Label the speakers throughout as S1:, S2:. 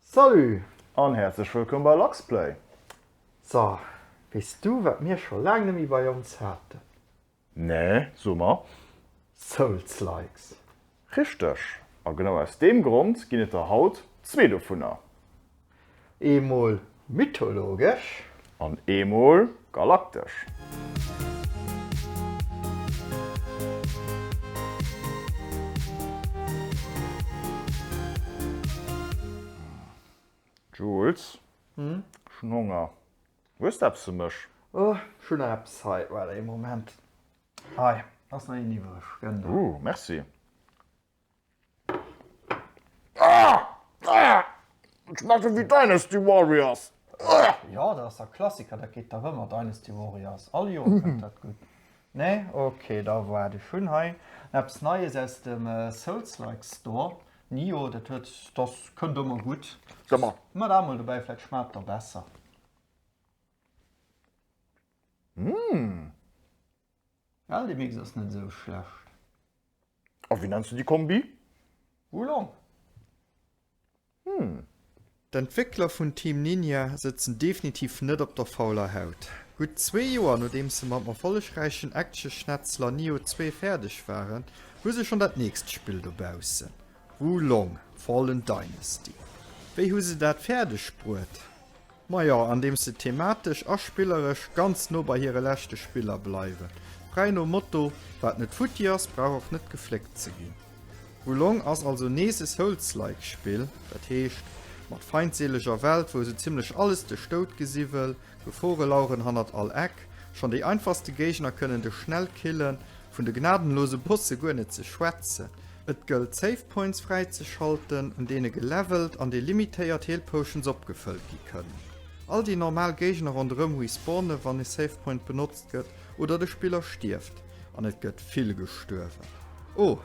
S1: Salut an häerzlech
S2: wëllkomm bei Luxplay! So,
S1: weess du wat mir scho laang net méi bei ons haten? Nee,
S2: so mer. Souls-likes! Richteg, a genau aus deem Grond ginn et der haut zwee dovunner.
S1: Eemol Mythologesch. An
S2: eemol galaktesch. Jules, ech hunn Honger. Hues de eppes fir mech? Oh, ech hunn nach
S1: eppes hei. Waarde ee Moment. Hei ass nach een iwwereg. Gënn der. Merci.
S2: Schmaachen wéi Dynasty Warriors. Jo, dat
S1: ass der Klassiker, dat geet dach ëmmer, Dynasty Warriors. All Joer kënnt dat gutt. Nee? Ok, da waart ech. Hunn hei eppes Neies aus dem Souls-like Store. Nioh, dat huet, dat kënnt ëmmer gutt. Maa dat
S2: mol dobäi, vläit
S1: schmaacht da besser. Well de Mix ass net esou schlecht.
S2: A wéi nenns de déi Kombi? Wulong.
S1: Hm.
S3: D'Entwéckler vun Team Ninja sëtzen definitiv net op der fauler Haut. Gutt zwee Joer nodeems se mam erfollegräichen Action-Schnetzler Nioh 2 fäerdeg waren, hu se schonn dat nächst Spill dobaussen, Wulong, Fallen Dynasty. Wéi hu se dat fäerdeg bruet? Majo, andeems se thematesch a spilleresch ganz no bei hire leschte Spiller bleiwen. Fräi nom Motto, Wat net futti ass, brauch och net gefléckt ze ginn. Wulong ass also nees e Souls-like Spill, dat heescht, mat feindseleger Welt, wou esou zimmlech alles de Stout gesi wëll, Gefore laueren hannert all Eck, schonn déi einfachste Géigner kënnen dech schnell killen, vun de gnadenlose Bosse guer net ze schwätzen. Et gëllt Save Points fräizeschalten, un deene gelevelt an delimitéiert Heal Potions opgefëllt gi kënnen. All déi normal Géigner ronderëm respawnen, wann e Save Point benotzt gëtt oder de Spiller stierft, an et gëtt vill gestuerwen. Oh,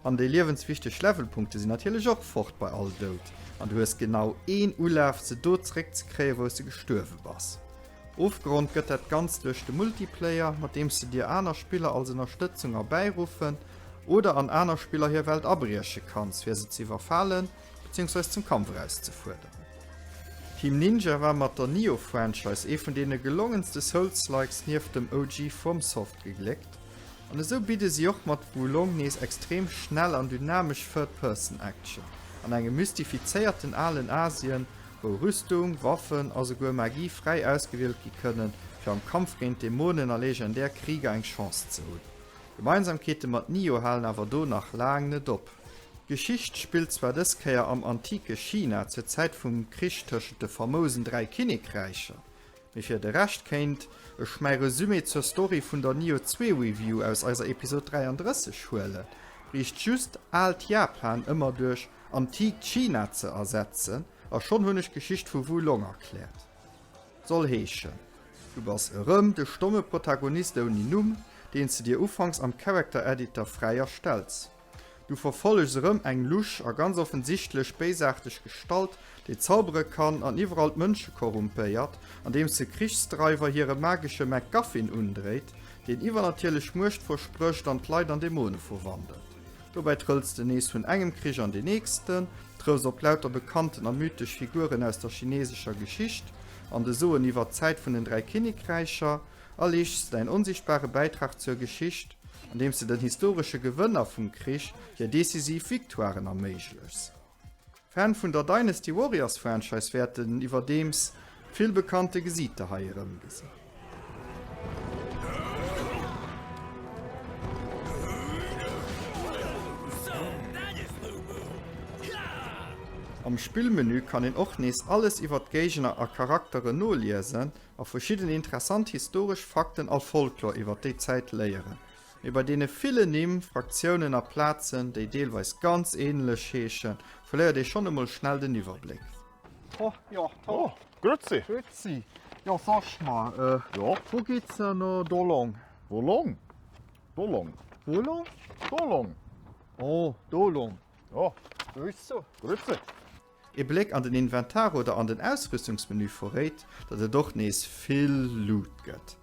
S3: an déi liewenswichteg Levelpunkte sinn natierlech och fort bei all Doud, an du hues genau een Ulaf se do zeréck ze kréien, wou s de gestuerwe bass. Ofgerond gëtt dat Ganzt duerch de Multiplayer, mat deems de dir aner Spiller als Ënnerstëtzung erbäiruffen oder an aner Spiller hir Welt abrieche kanns, fir se ze iwwerfalen bezéiungsweis zum Kampf erauszefuerderen. Team Ninja war mat der Nioh-Franchise ee vun deene gelongenste Souls-likes nieft dem OG FromSoft gegléckt, an esou bidde si och mat Wo Long nees extrem schnell an dynamesch Third-Person-Action an engem mystifizéierten alen Asien, wou Rüstung, Waffen a souguer Magie fräi ausgewielt gi kënnen, fir am Kampf géint Dämonen a legendär Krieger eng Chance ze hunn. Gemeinsamkeete mat Nioh halen awer do nach laang net op. D'Geschicht spillt zwar dës Kéier am antike China zur Zäit vum Krich tëschent de famousen Dräi Kinnekräicher, Mee fir de Rescht kéint ech mäi Resumé zur Story vun der Nioh 2 Review aus eiser Episode 33 huelen. Briecht just aalt Japan ëmmer duerch antiikt China ze ersetzen a schonn hunn ech d'Geschicht vu Wu Long erkläert. Soll heeschen, du bass erëm de stomme Protagonist ouni Numm, deen s de dir ufanks am Character Editor fräi erstells. Du verfollechs erëm eng lusch a ganz offensichtlech béisaarteg Gestalt, déi zaubere kann an iwwerall d'Mënsche korrumpéiert, andeems se Krichsdreiwer hire magesche MacGuffin undréit, deen iwwernatierlech Muecht versprécht an d'Leit an Dämone verwandelt. Dobäi trëlls de nees vun engem Krich an deen nächsten, trëffs op lauter bekannten a mythesch Figuren aus der chinesescher Geschicht an de Soen iwwer d'Zäit vun den dräi Kinnekräicher a leeschs däin onsichtbare Bäitrag zur Geschicht, andeems de den historesche Gewënner vum Krich hir decisiv Victoiren erméiglechs. Fan vun der Dynasty Warriors Franchise wäerten iwwerdeems vill bekannte Gesiiter hei erëmgesinn. Am Spillmenü kann een och nees alles iwwer d'Géigner a Charakteren noliesen. a verschidden interessant historesch Fakten a Folklor iwwer déi Zäit léieren, mee bei deene villen Nimm, Fraktiounen a Plazen, déi deelweis ganz änlech heeschen, verléiert ee schonn emol schnell den Iwwerbléck. Ho,
S1: jo, ho. Oh, grüezi.
S2: Grüezi.
S1: Jo, sag mal, Jo. wou geet
S2: se no
S1: do long? Wou long?
S2: Do long. Wou long?
S1: Do long.
S2: Oh,
S1: do long. Jo.
S2: Grüß zu.
S1: Grüezi.
S2: Ee Bléck
S3: an den Inventar oder an den Ausrüstungsmenü verréit, datt et och nees vill Loot gëtt.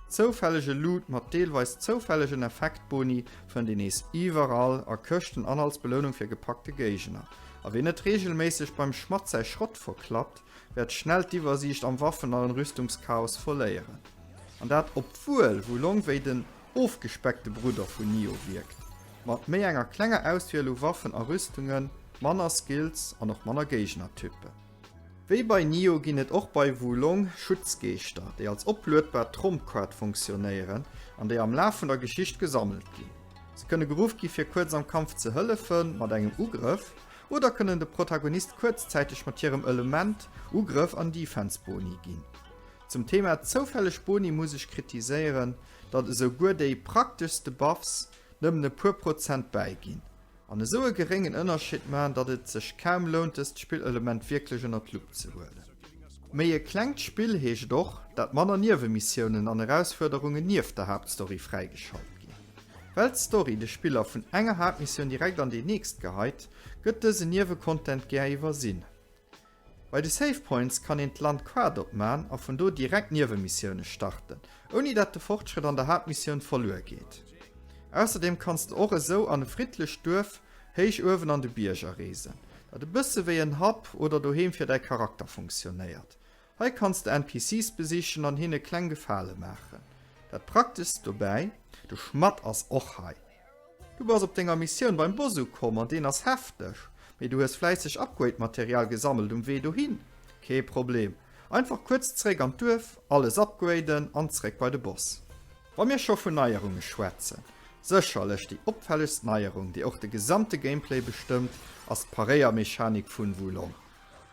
S3: Zoufällege Loot mat deelweis zoufällegen Effektboni fënnt een nees iwwerall a Këschten an als Belounung fir gepackte Géigner. A wien net reegelméisseg beim Schmadd säi Schrott verklappt, wäert schnell d'Iwwersiicht am Waffen an Rüstungschaos verléieren. An dat obwuel Wulong wéi den. ofgespeckte Brudder vun Nioh wierkt, mat méi enger klenger Auswiel u Waffen a Rüstungen, manner Skills an och manner Géignertypen. Wéi bei Nioh ginn et och bei Wo Long Schutzgeeschter, déi als opluedbar Trompkaart funktionéieren an déi am Laf vun der Geschicht gesammelt ginn. Se kënne geruff gi fir kuerz am Kampf ze hëllefen, mat engem Ugrëff, oder kënnen de Protagonist kuerzzäiteg mat hirem Element, Ugrëff an Defense Boni ginn. Zum Thema zoufälleg Boni muss ech kritiséieren, datt esou guer déi prakteschste Buffs nëmmen e puer Prozent bäiginn an esou e geréngen Ënnerscheed man, datt et sech kaum lount dëst Spillelement wierklech ënner d'Lupp ze huelen. Méi e klengt Spill heescht och, datt manner Niewe-Missiounen an Erausfuerderungen nieft der Haaptstory fräigeschalt ginn. Well d'Story de Spiller vun enger Haaptmissioun direkt an déi nächst geheit, gëtt dësen Niewe-Content gär iwwersinn. Bei de Save Points kann een d'Land quat opman a vun do direkt Niewemissioune starten, ouni dat de Fortschrëtt an der Haaptmissioun verluer geet. Ausserdeem kanns de och esou an e friddlecht Duerf héich uewen an de Bierger reesen, dat e bësse wéi en Hub oder Doheem fir däi Charakter funktionéiert. Hei kanns de NPCs besichen an hinne kleng Gefale maachen. Dat prakteschst dobäi? De Schmadd ass och hei. Du bass op denger Missioun beim Boss ukomm an deen ass hefteg, mee du hues fläisseg Upgrade-Material gesammelt um Wee dohin? Kee Problem, einfach kuerz zeréck an d'Duerf, alles upgraden an zeréck bei de Boss. Wa mir scho vun Neierunge schwätzen, sécherlech déi opfällegst Neierung, déi och de gesamte Gameplay bestëmmt, ass d'Paréiermechanik vun Wulong.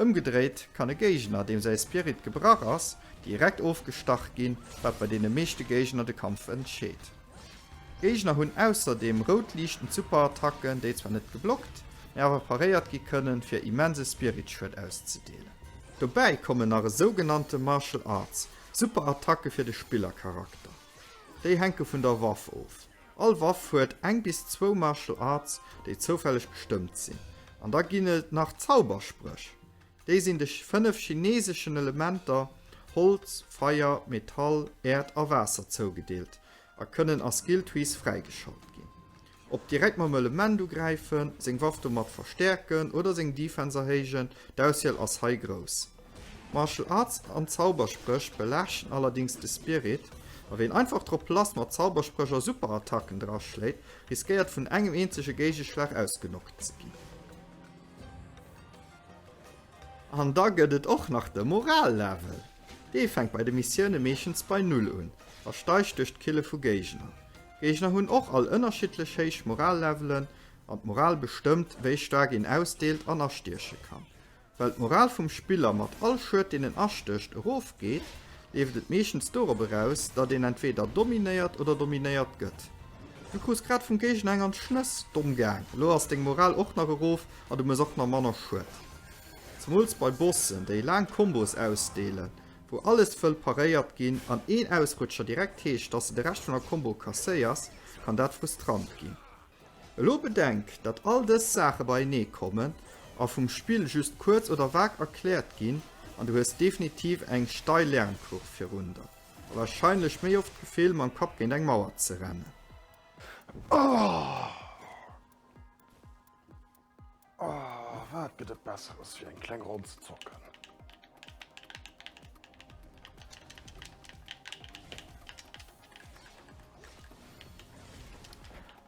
S3: Ëmgedréit kann e Géigner, deem säi Spirit gebrach ass, direkt ofgestach ginn, wat bei deene meeschte Géigner de Kampf entscheet. D'Géigner hunn ausserdeem rout liichtend Superattacken, déi zwar net geblockt, mä awer paréiert gi kënnen, fir immense Spiritschued auszedeelen. Dobäi kommen nach e sougenannte Martial Arts Superattacke fir de Spillercharakter. Déi hänke vun der Waff of. All Waff huet eng bis zwou Martial Arts déi zoufälleg bestëmmt sinn. An da ginn et nach Zauberspréch. Déi sinn de 5 chineseschen Elementer, Holz, Feier, Metall, Äerd a Waasser, zougedeelt a kënnen a Skill Trees fräigeschalt ginn. Ob direkt mam Element ugräifen, seng Waff domat verstäerken oder seng Defense erhéijen, d'Auswiel ass hei grouss. Martial Arts an Zauberspréch belaaschten allerdings de Spirit, a ween einfach drop lass mat Zauberspréch a Superattacken draschléit, riskéiert vun engem eenzege Géigeschlag ausgenockt ze ginn. An da gëtt et och nach de Moral-Level. Dee fänkt bei de Missioune meeschtens bei Null un a steigt duerch d'Kille vu Géigner. D'Géigner hunn och all ënnerschiddlech héich Moral-Levelen, an d'Moral bestëmmt, wéi staark een ausdeelt an astieche kann. Well d'Moral vum Spiller mat all Schued deen en astécht erof geet, leeft et meeschtens dorop eraus, datt een entweder dominéiert oder dominéiert gëtt. Du krus grad vum Géigner eng an d'Schnëss, domm gaang, elo ass deng Moral och nach erof a du muss och nach manner Schued. Zemools bei Bossen, déi laang Kombos ausdeelen, wou alles wëll paréiert ginn an een Ausrutscher direkt heescht, datt s de de Rescht vun der Kombo kasséiers, kann dat frustrant ginn. Elo bedenk, datt all dës Saache beienee kommen a vum Spill just kuerz oder vag erkläert ginn, an du hues definitiv eng steil Lernkurv virun der, a warscheinlech méi oft d'Gefill, mam Kapp géint eng Mauer ze rennen. Ohh!
S2: Oh, wat gëtt et Besseres wéi eng kleng Ronn ze zocken?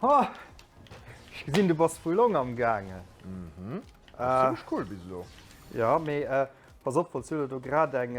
S1: Ha! Ech gesinn, du bass vu Long am Gaangen. Mhm. Ass zimlech
S2: cool bis elo. Jo, mee
S1: pass op, falls du der do grad eng.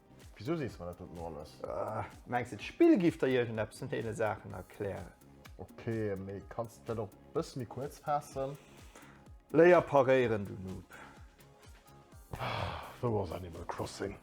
S1: Wisou
S2: sees de mer dat dot elo alles? Mengs de d'Spill
S1: giff der iergendeppes vun deene Saachen erklären? Ok,
S2: mee kanns de d'Wäert och e bësse méi kuerz faassen? Léier
S1: paréieren, du Noob!
S2: Wou ass Animal Crossing?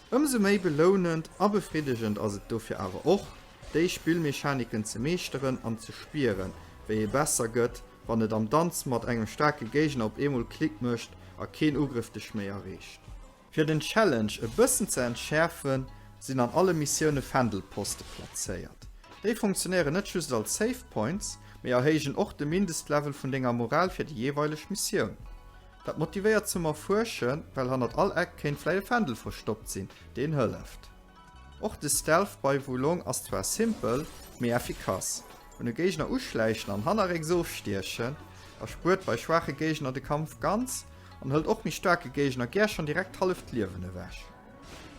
S3: Ëmsou méi belounend a befriddegend ass et dofir awer och, déi Spillmechaniken ze meeschteren an ze spieren, wéi ee besser gëtt, wann et am Danz mat engem staarke Géigner op eemol Klick mécht a keen Ugrëff dech méi erreecht. Fir den Challenge e bëssen ze entschäerfen, sinn an alle Missioune Fändelposte plazéiert. Déi funktionéieren net just als Save Points, mee erhéijen och de Mindestlevel vun denger Moral fir déi jeeweileg Missioun. Dat motivéiert zum Erfuerschen, well hannert all Eck kéint vläit e Fändel verstoppt sinn, deen hëlleft. Och de Stealth bei Wo Long ass zwar simpel, mee effikass. Un e Géigner uschläichen an hannerrécks ofstiechen, erspuert bei schwaache Géigner de Kampf ganz, an hëlt och méi staarke Géigner gär schonn direkt d'halleft Liewen ewech.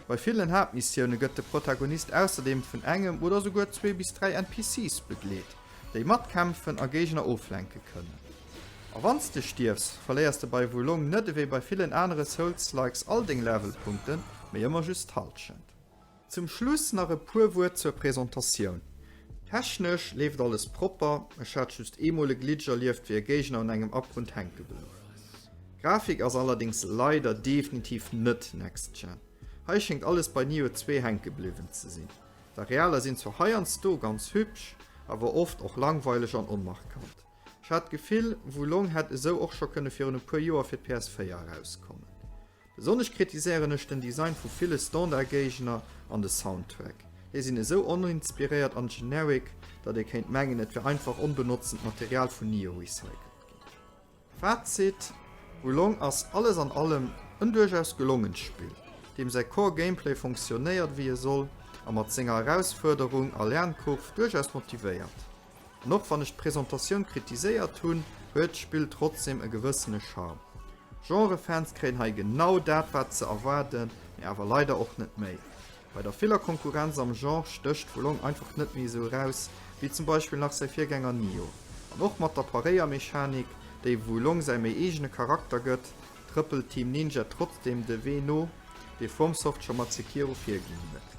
S3: Bei villen Haaptmissioune gëtt de Protagonist ausserdeem vun engem oder souguer zwee bis dräi NPCs begleet, déi matkämpfen a Géigner oflenke kënnen. A wanns de stierfs, verléiers de bei Wo Long net ewéi bei villen anere Souls-likes all deng Levelpunkten, mee ëmmer just d'Halschent. Zum Schluss nach e puer Wuert zur Presentatioun. Technesch leeft alles propper, ech hat just eemol e Glitch erlieft wéi e Géigner un engem Abgrund hänke blouw. Grafik ass allerdings leider definitiv net next gen, hei schéngt alles bei Nioh 2 hänke bliwwen ze sinn. D'Arealer sinn zwar heiansdo ganz hübsch, awer oft och langweileg an onmarkant. Ech hat d'Gefill, Wulong hätt esou och scho kënne virun e puer Joer fir d'PS4 erauskommen. Besonnesch kritiséieren ech den Design vu ville Standard-Géigner an de Soundtrack. Déi sinn esou oninspiréiert an generic, datt ee kéint mengen, et wär einfach onbenotzent Material vun Nioh recycelt ginn. Fazit, Wulong ass alles an allem en duerchaus gelongent Spill, deem säi Core Gameplay fonctionnéiert wéi e soll a mat senger Erausfuerderung a Lernkurv duerchaus motivéiert. An och wann ech d'Presentatioun kritiséiert hunn, huet d'Spill trotzdem e gewëssene Charme. Genre-Fans kréien hei genau dat wat ze erwaarden, mee awer leider och net méi. Bei der viller Konkurrenz am Genre stécht Wo Long einfach net méi esou eraus wéi zum Beispill nach säi Virgänger Nioh. An och mat der Paréiermechanik, déi Wo Long säi méi eegene Charakter gëtt, trëppelt Team Ninja trotzdem de Wee no, dee FromSoft scho mat Sekiro virginn huet.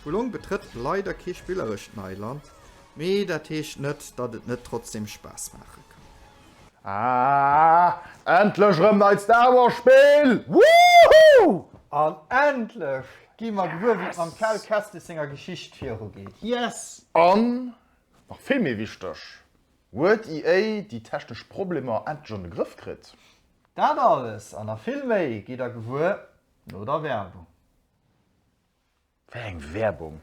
S3: Wo Long betrëtt leider kee spillerescht Neiland, Mee dat heescht net, datt et net trotzdem Spaass maache kann. Ah, endlech erëm neit
S2: Star Wars Spill! Woohoo! An
S1: endlech gi mer gewuer wéi et mam Cal Kestis senger Geschicht viru geet. Yes! An,
S2: nach vill méi wichteg, huet EA déi technesch Problemer endlech an de Grëff kritt? Dat alles
S1: an nach vill méi gitt der gewuer no der Werbung. Wéi
S2: eng Werbung?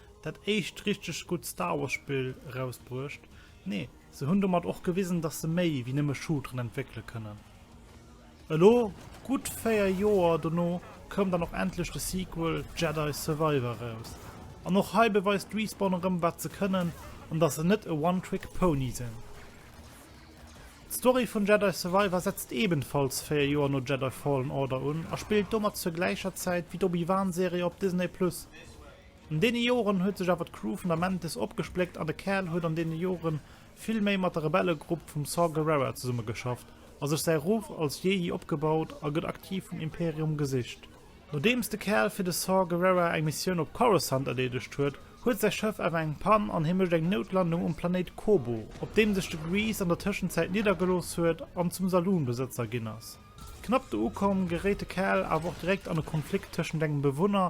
S4: Dat éischt richteg gutt Star Wars Spill erausbruecht. Nee, se hunn domat och gewisen, dass se méi wéi nëmme Shooteren entwéckele kënnen. Elo, gutt 4 Joer dono, koum dann och endlech de Sequel Jedi Survivor eraus. An och hei beweist Respawn erëm wat se kënnen, an dass se net e One Trick Pony sinn. D'Story vun Jedi Survivor setzt ebenfalls 4 Joer no Jedi Fallen Order un a spillt domat zur gläicher Zäit wéi d'Obi-Wan Serie op Disney Plus. An deene Joren huet sech awer d'Crew vun der Mantis opgespléckt an de Kerl huet an deene Jore vill méi mat der Rebellegrupp vum Saw Gerrera zesummegeschafft a sech säi Ruff als Jehi opgebaut a gëtt aktiv vum Imperium gesicht. Nodeems de Kerl fir de Saw Gerrera eng Missioun op Coruscant erleedegt huet, huet säi Schëff awer eng Pann an hie mécht eng Noutlandung um Planéit Koboh, op deem sech de Greez an der Tëschenzäit niddergelooss huet an zum Saloon-Besëtzer ginn ass. Knapp do ukomm, geréit de Kerl awer och direkt an e Konflikt tëschent engem Bewunner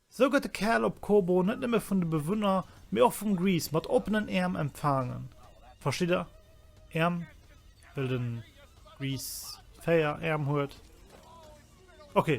S4: Sou gëtt de Kerl op Kobo net nëmme vun de Bewunner, mee och vum Grease mat oppenen Äerm empfaangen. Verstitt der? Äerm, well de Grease véier Äerm huet. Ok,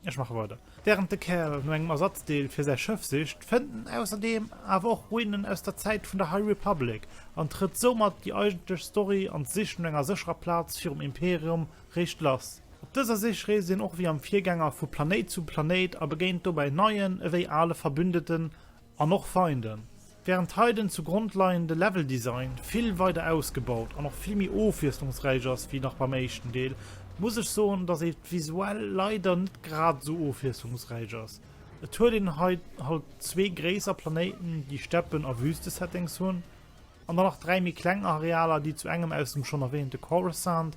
S4: ech maache weider. Wärend de Kerl no engem Ersatzdeel fir säi Schëff sicht, fënnt en ausserdeem awer och Ruinen aus der Zäit vun der High Republic an trëtt soumat déi eigentlech Story an d'Sich no enger sécherer Plaz virum Imperium réischt lass. Op dëser Sich reest een och wéi am Virgänger vu Planéit zu Planéit a begéint dobäi neien ewéi ale Verbündeten an och Feinden. Wärend hei den zugrond leiende Leveldesign vill weider ausgebaut an och vill méi ofwiesslungsräich ass wéi nach beim éischten Deel, muss ech soen, dass et visuell leider net grad esou ofwiesslungsräich ass. Et huet een hei halt zwee gréisser Planéiten, déi Steppen a Wüste-Settings hunn, an dann nach dräi méi kleng Arealer, déi zu engem aus dem schonn erwähnte Coruscant,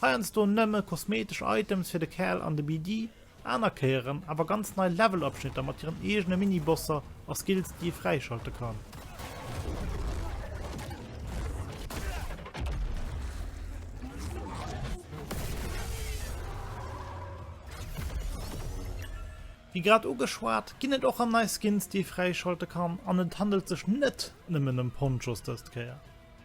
S4: Heiansdo nëmme kosmetesch Items fir de Kerl an de BD, aner Kéieren awer ganz nei Levelabschnitter mat hiren eegene Minibosser a Skills déi ee fräischalte kann. Wéi grad ugeschwat, ginn et och rem nei Skins déi ee fräischalte kann an et handelt sech net nëmmen ëm Ponchos dëst Kéier.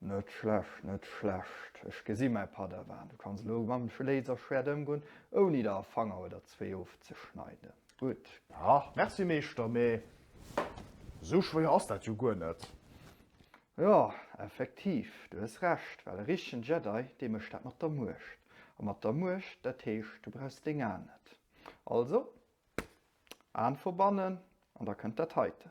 S4: Net
S1: schlecht, net schlecht. Ech gesi mäi Padawan, du kanns elo mam Laserschwert ëmgoen, ouni der e Fanger oder zwee ofzeschneiden. Gutt. A, merci,
S2: Meeschter, mee esou schwéier ass dat jo guer net. Jo,
S1: effektiv, du hues Recht, well e richtegen Jedi, dee mécht dat mat der Muecht. A mat der Muecht, dat heescht, du brauchs deng Aen net. Also, Aen verbannen, an da kënnt dat heiten.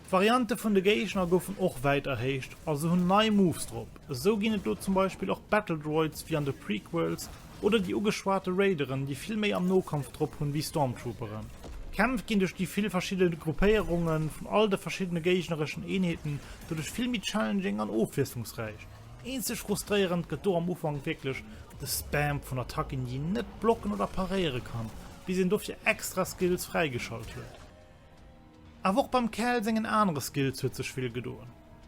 S4: D'Variante vun de Géigner goufen och wäit erhéicht a se hunn nei Moves drop. Esou ginn et lo zum Beispill och Battle Droids wéi an de Prequels oder déi ugeschwate Raideren, déi vill méi am Nokampf drop hunn wéi Stormtrooperen. D'Kämpf ginn duerch déi vill verschidde Gruppéierunge vun all de verschiddene géignereschen Eenheeten doduerch vill méi challenging an ofwiesslungsräich. Eenzeg frustréierend gëtt do am Ufank wierklech de Spam vun Attacken, déi een net blocken oder paréiere kann, bis een dofir extra Skills fräigeschalt huet. Awer och beim Cal sengen anere Skills huet sech vill gedoen.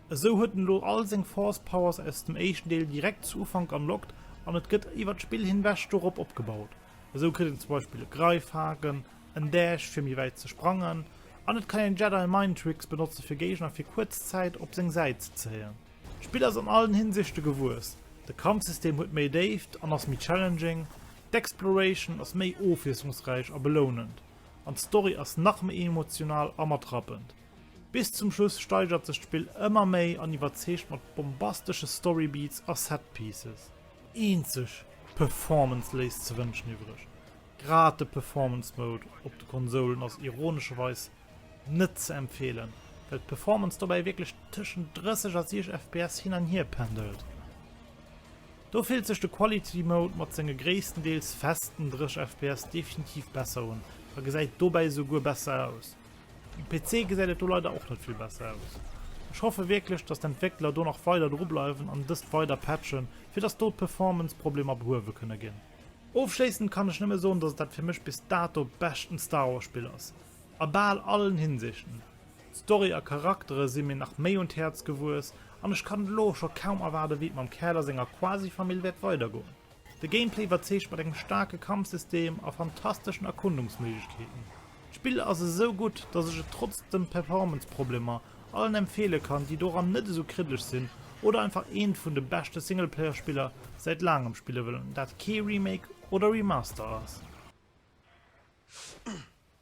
S4: Esou huet en elo all seng Force Powers aus dem éischten Deel direkt zu Ufank unlocked an et gëtt iwwert d'Spill hinwech dorop opgebaut. Esou kritt een zum Beispill e Greifhaken, en Dash fir méi wäit ze sprangen an et kann een Jedi Mind Tricks benotze fir Géigner fir kuerz Zäit op seng Säit ze zéien. D'Spill ass an allen Hinsichte gewuess, de Kampfsystem huet méi Déift an ass méi challenging, d'Exploration ass méi ofwiesslungsräich a belounend, an d'Story ass nach méi emotional a mat rappend. Bis zum Schluss steigert sech d'Spill ëmmer méi an iwwerzeegt mat bombastesche Storybeats a Setpieces. Eenzeg, d'Performance léisst ze wënschen iwwreg. Grad de Performance Mode op de Konsoulen ass ironescherweis net ze empfeelen, well d'Performance dobäi wierklech tëschent 30 a 60 fps hin an hier pendelt. Do fillt sech de Quality Mode mat senge gréisstendeels festen 30 fps definitiv besser un a gesäit dobäi esou guer besser aus. Um PC gesäit et do leider och net vill besser aus. Ech hoffe wierklech dass d'Entwéckler do nach weider dru bleiwen an dëst weider patchen fir dass do d'Performance Problemer behuewe kënne ginn. Ofschléissend kann ech nëmme soen dass et dat fir mech bis dato beschten Star Wars Spill ass, a bal allen Hinsichten. D'Story a Charaktere si mir nach méi un d'Häerz gewuess an ech kann et elo och scho kaum erwaarde wéi et mam Kerl a senger Quasifamill wäert weidergoen. De Gameplay iwwerzeegt mat engem staarke Kampfsystem a fantasteschen Erkundungsméiglechkeeten. D'Spill ass esou gutt, datt ech et trotz de Performance-Problemer allen empfeele kann, déi doran net esou kriddlech sinn oder einfach eent vun de beschte Singleplayer-Spiller säit laangem spille wëllen, dat kee Remake oder Remaster ass.